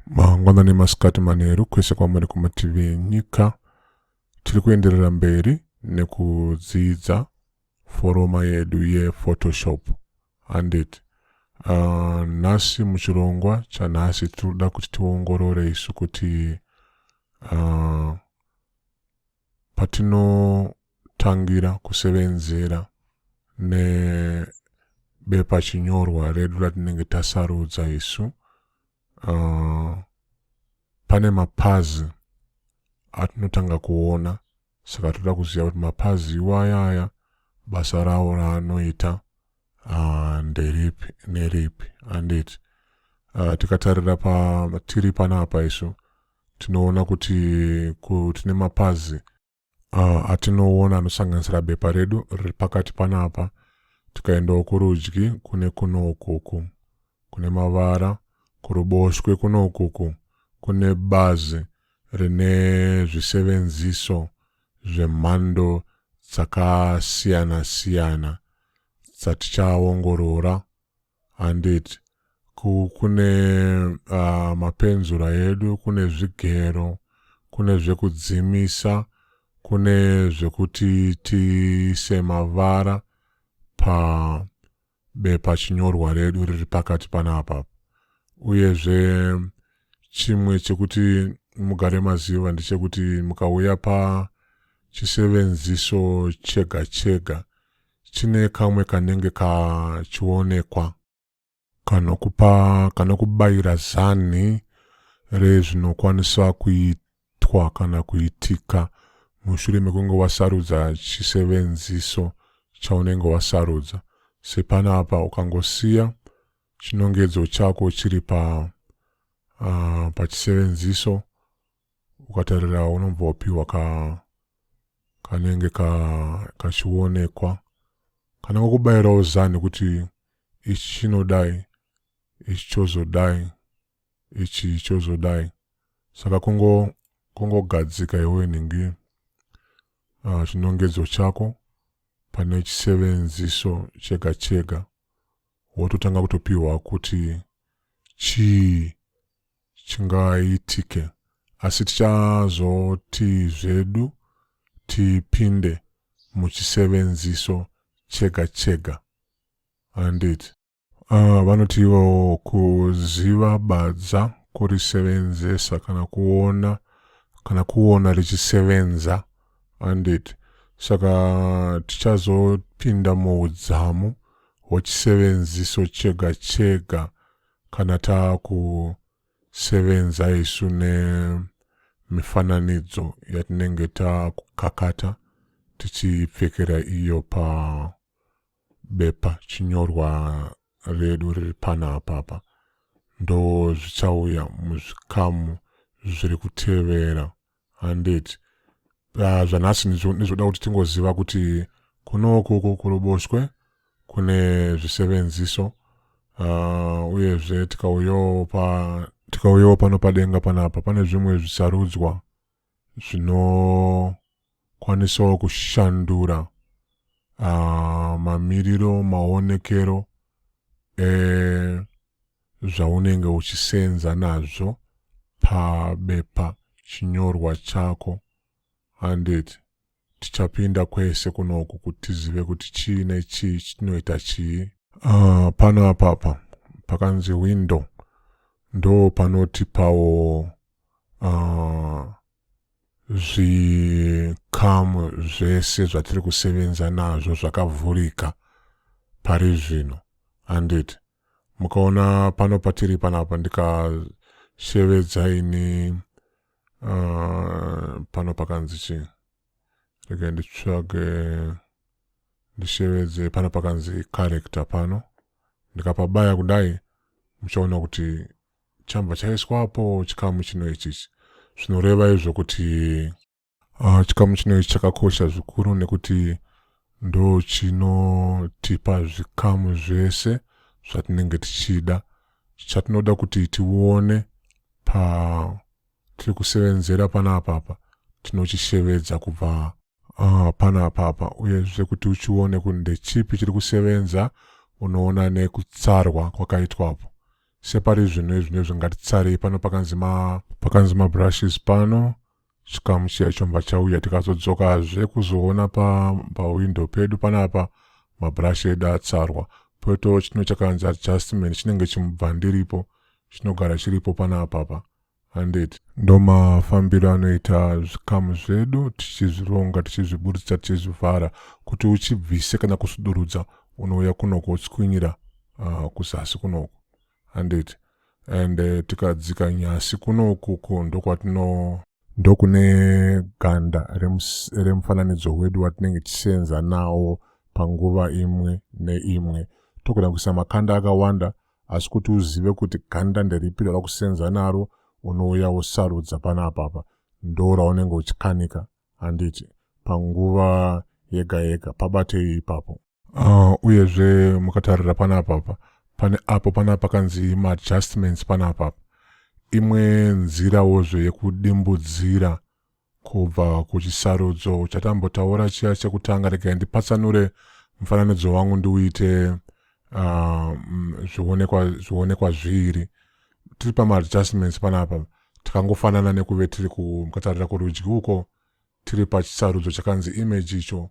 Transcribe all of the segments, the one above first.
mangwana nemasikati manheru kwese kwamuri kumativi enyika tiri kuenderera mberi nekudzidza foroma yedu yephotoshop handiti uh, nhasi muchirongwa chanhasi tinoda kuti tiongorore isu kuti uh, Patinotangira kusevenzera nebepa chinyorwa redu ratinenge tasarudza isu, uh, pane mapazi atinotanga kuona saka toda kuziva kuti mapazi iwayaya basa rawo raanoita uh, nderipi neripi anditi uh, tikatarira patiri panapa isu tinoona kuti tine mapazi uh, atinoona anosanganisira bepa redu riri pakati panapa tikaendawo kurudyi kune kuno ukuku kune mavara kuruboshwe kuno ukuku kune bazi rine zvisevenziso zvemhando dzakasiyana-siyana dzatichaongorora Handiti ku, kune uh, mapenzura edu, kune zvigero, kune zvekudzimisa, kune zvekuti tiise mavara pa bepa chinyorwa redu riri pakati panapa uyezve chimwe chekuti mugare maziva ndechekuti mukauya pachisevenziso chega chega chine kamwe kanenge kachionekwa kanokupa kanokubayira zanhi rezvinokwanisa kuitwa kana kuitika mushure mekunge wasarudza chisevenziso chaunenge wasarudza sepanapa ukangosiya chinongedzo chako chiri pa uh, pachisevenziso ukatarira unobva wapiwa ka kanenge ka kachionekwa kanenge kubayirawo zani kuti ichi chinodai ichi chozodai ichi chozodai saka kungo kungogadzika iwe nhingi uh, chinongedzo chako pane chisevenziso chega chega wototanga kutopiwa kuti chii chingaitike asi tichazoti zvedu tipinde muchisevenziso chega chega handiti uh, vanoti ivowo kuziva badza kurisevenzesa kana kuona kana kuona richisevenza handiti saka tichazopinda muudzamu hwechisevenziso chega chega kana taakusevenza isu nemifananidzo yatinenge taakukakata tichipfekera iyo pabepa chinyorwa redu riri pana apapa ndo zvichauya muzvikamu zviri kutevera handed uh, zvanhasi ndizvoda kuti tingoziva kuti kunoku uku kuruboshwe kune zvisevenziso uh, uyezve tikauyawo pa tikauyawo pano padenga panapa pane zvimwe zvisarudzwa zvinokwanisawo kushandura uh, mamiriro maonekero e, zvaunenge uchiseenza nazvo pabepa chinyorwa chako handiti tichapinda kwese kunoku kuti tizive kuti chii nechii chitinoita chii uh, pano apapa pakanzi window ndo panotipawo uh, ah, zvikamu zvese zvatiri kusevenza nazvo zvakavhurika pari zvino handiti mukaona pano patiri panapa ndikashevedza ini uh, pano pakanzi chi rege nditsvage ndishevedze pano pakanzi character pano ndikapabaya kudai muchaona kuti chambva chaiswapo chikamu chino ichichi zvinoreva izvo kuti Ah, chikamu chino ichi chakakosha zvikuru nekuti ndo chinotipa zvikamu zvese zvatinenge tichida chatinoda kuti tione pa tiri kusevenzera pana apapa tinoshishevedza kubva uh, pana apapa uyezve kuti uchione kuti ndechipi chiri kusevenza unoona nekutsarwa kwakaitwapo separi zvinhu izvino zvingatitsarei pano pakanzi mabrushes pano chikamu chiya chomba chauya tikazodzokazve kuzoona pahwindo pa pedu panapa mabhurashi edu atsarwa poitawo chino chakanzi adjustment chinenge chimubva ndiripo chinogara chiripo panapapa handiti ndomafambiro anoita zvikamu zvedu tichizvironga tichizviburitsa tichizvivhara kuti uchibvise kana kusudurudza unouya kunoko utswinyira uh, ah, kuzasi kunoko handiti and eh, tikadzika nyasi kuno ukuku ndokwatino ndokune ganda remufananidzo wedu watinenge tichisenza nawo panguva imwe neimwe togona kuisa makanda akawanda asi kuti uzive kuti ganda nderipi rava kusenza naro unouya wosarudza pana apapa ndo raunenge uchikanika handiti panguva yega yega pabatei ipapo uh, uyezve mukatarira panapapa pane apo pana pakanzi maadjustments panapapa imwe nzirawozve yekudimbudzira kubva kuchisarudzo chatambotaura chiya chekutanga regai ndipatsanure mufananidzo wangu ndiuite uh, zvionekwa zvionekwa zviri tiri pamaadjustments panapa tikangofanana nekuve tiri mukatarira kurudyi uko tiri pachisarudzo chakanzi image icho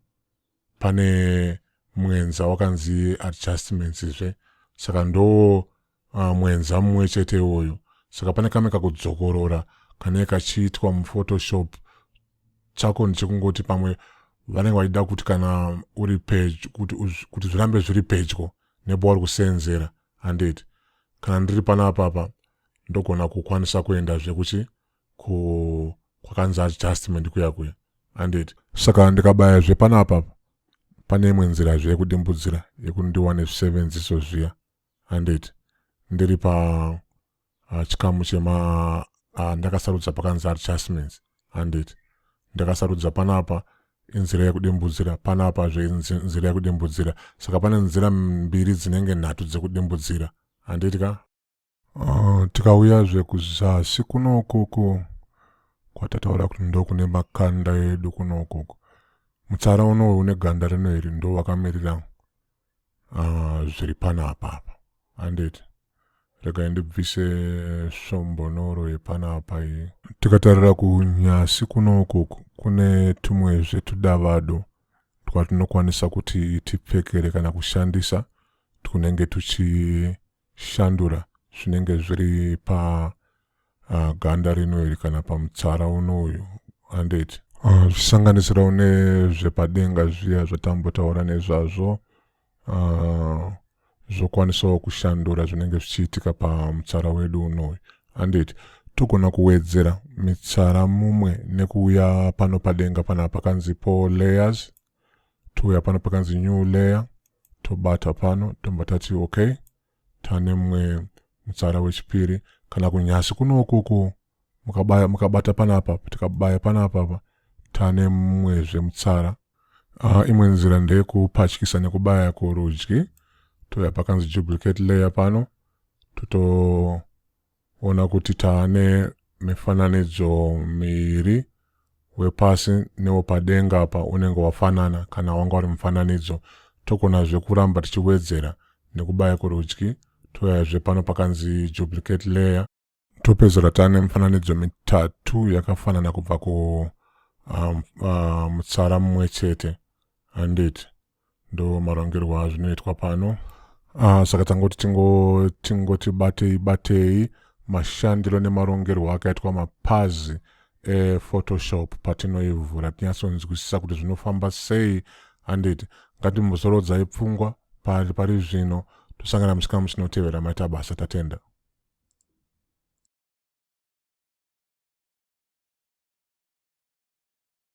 pane mwenza wakanzi adjustments zve saka ndo uh, mwenza mumwe chete iwoyo saka pane kamwe kakudzokorora kanee kachiitwa muphotoshop chako ndichekungoti pamwe vanenge vachida kuti kana uri pedyo kuti zvirambe zviri pedyo nebo wari kuseenzera handiti kana ndiri pana apapa ndogona kukwanisa kuendazve kuchi ku kwakanzi adjustment kuya kuya anditi saka ndikabaya zve panapa pane imwe nzira zve yekudimbudzira yekuti ndiwane zvisevenziso zviya anditi ndiri pa uh, chikamu chema uh, ndakasarudza pakanzi adjustments anditi ndakasarudza panapa inzira yekudimbudzira panapa zve nzira yekudimbudzira saka pane nzira mbiri dzinenge nhatu dzekudimbudzira handiti ka Uh, tikauyazve kuzasi kuno ukoko kwatataura kuti ndokune makanda edu kuno ukoko mutsara unowe une ganda rino iri ndo wakamirira uh, zviri pana apapa anditi regai ndibvise svombonoro yepana apa iyi tikatarira kunyasi kuno ukoko kune tumwezve tudavado twatinokwanisa kuti tipfekere kana kushandisa twunenge tuchi shandura zvinenge zviri pa uh, ganda rino iri kana pamutsara uno uyu handeti ah, zvichisanganisira uh, une zvepadenga zviya zvatambotaura nezvazvo uh, zvokwanisawo kushandura zvinenge zvichiitika pamutsara wedu unoyu handeti togona kuwedzera mitsara mumwe nekuuya pano padenga pana pakanzi po layers touya pano pakanzi new layer tobata pano tobva tati okay tane mumwe mutsara wechipiri kana kunyasi kuno ukuku mukabaya mukabata panapa tikabaya panapa pa tane mumwe zvemutsara uh, imwe nzira ndeyekupatyisa nekubaya kurudyi toya pakanzi duplicate layer pano toto Ona kuti taane mifananidzo miiri wepasi newepadenga apa unenge wafanana kana wanga uri mufananidzo tokonazve kuramba tichiwedzera nekubaya kurudyi toyazve pano pakanzi duplicate layer topedzera tane mifananidzo mitatu yakafanana kubva ku um, uh, mutsara mumwe chete handiti ndo marongerwo azvinoitwa pano ah, saka tangoti tingoti batei batei mashandiro nemarongerwo akaitwa mapazi ephotoshop patinoivhura tinyatsonzwisisa kuti zvinofamba sei handiti ngatimbozorodzai pfungwa pari pari zvino tosangana musikamu chinotevera maita basa tatenda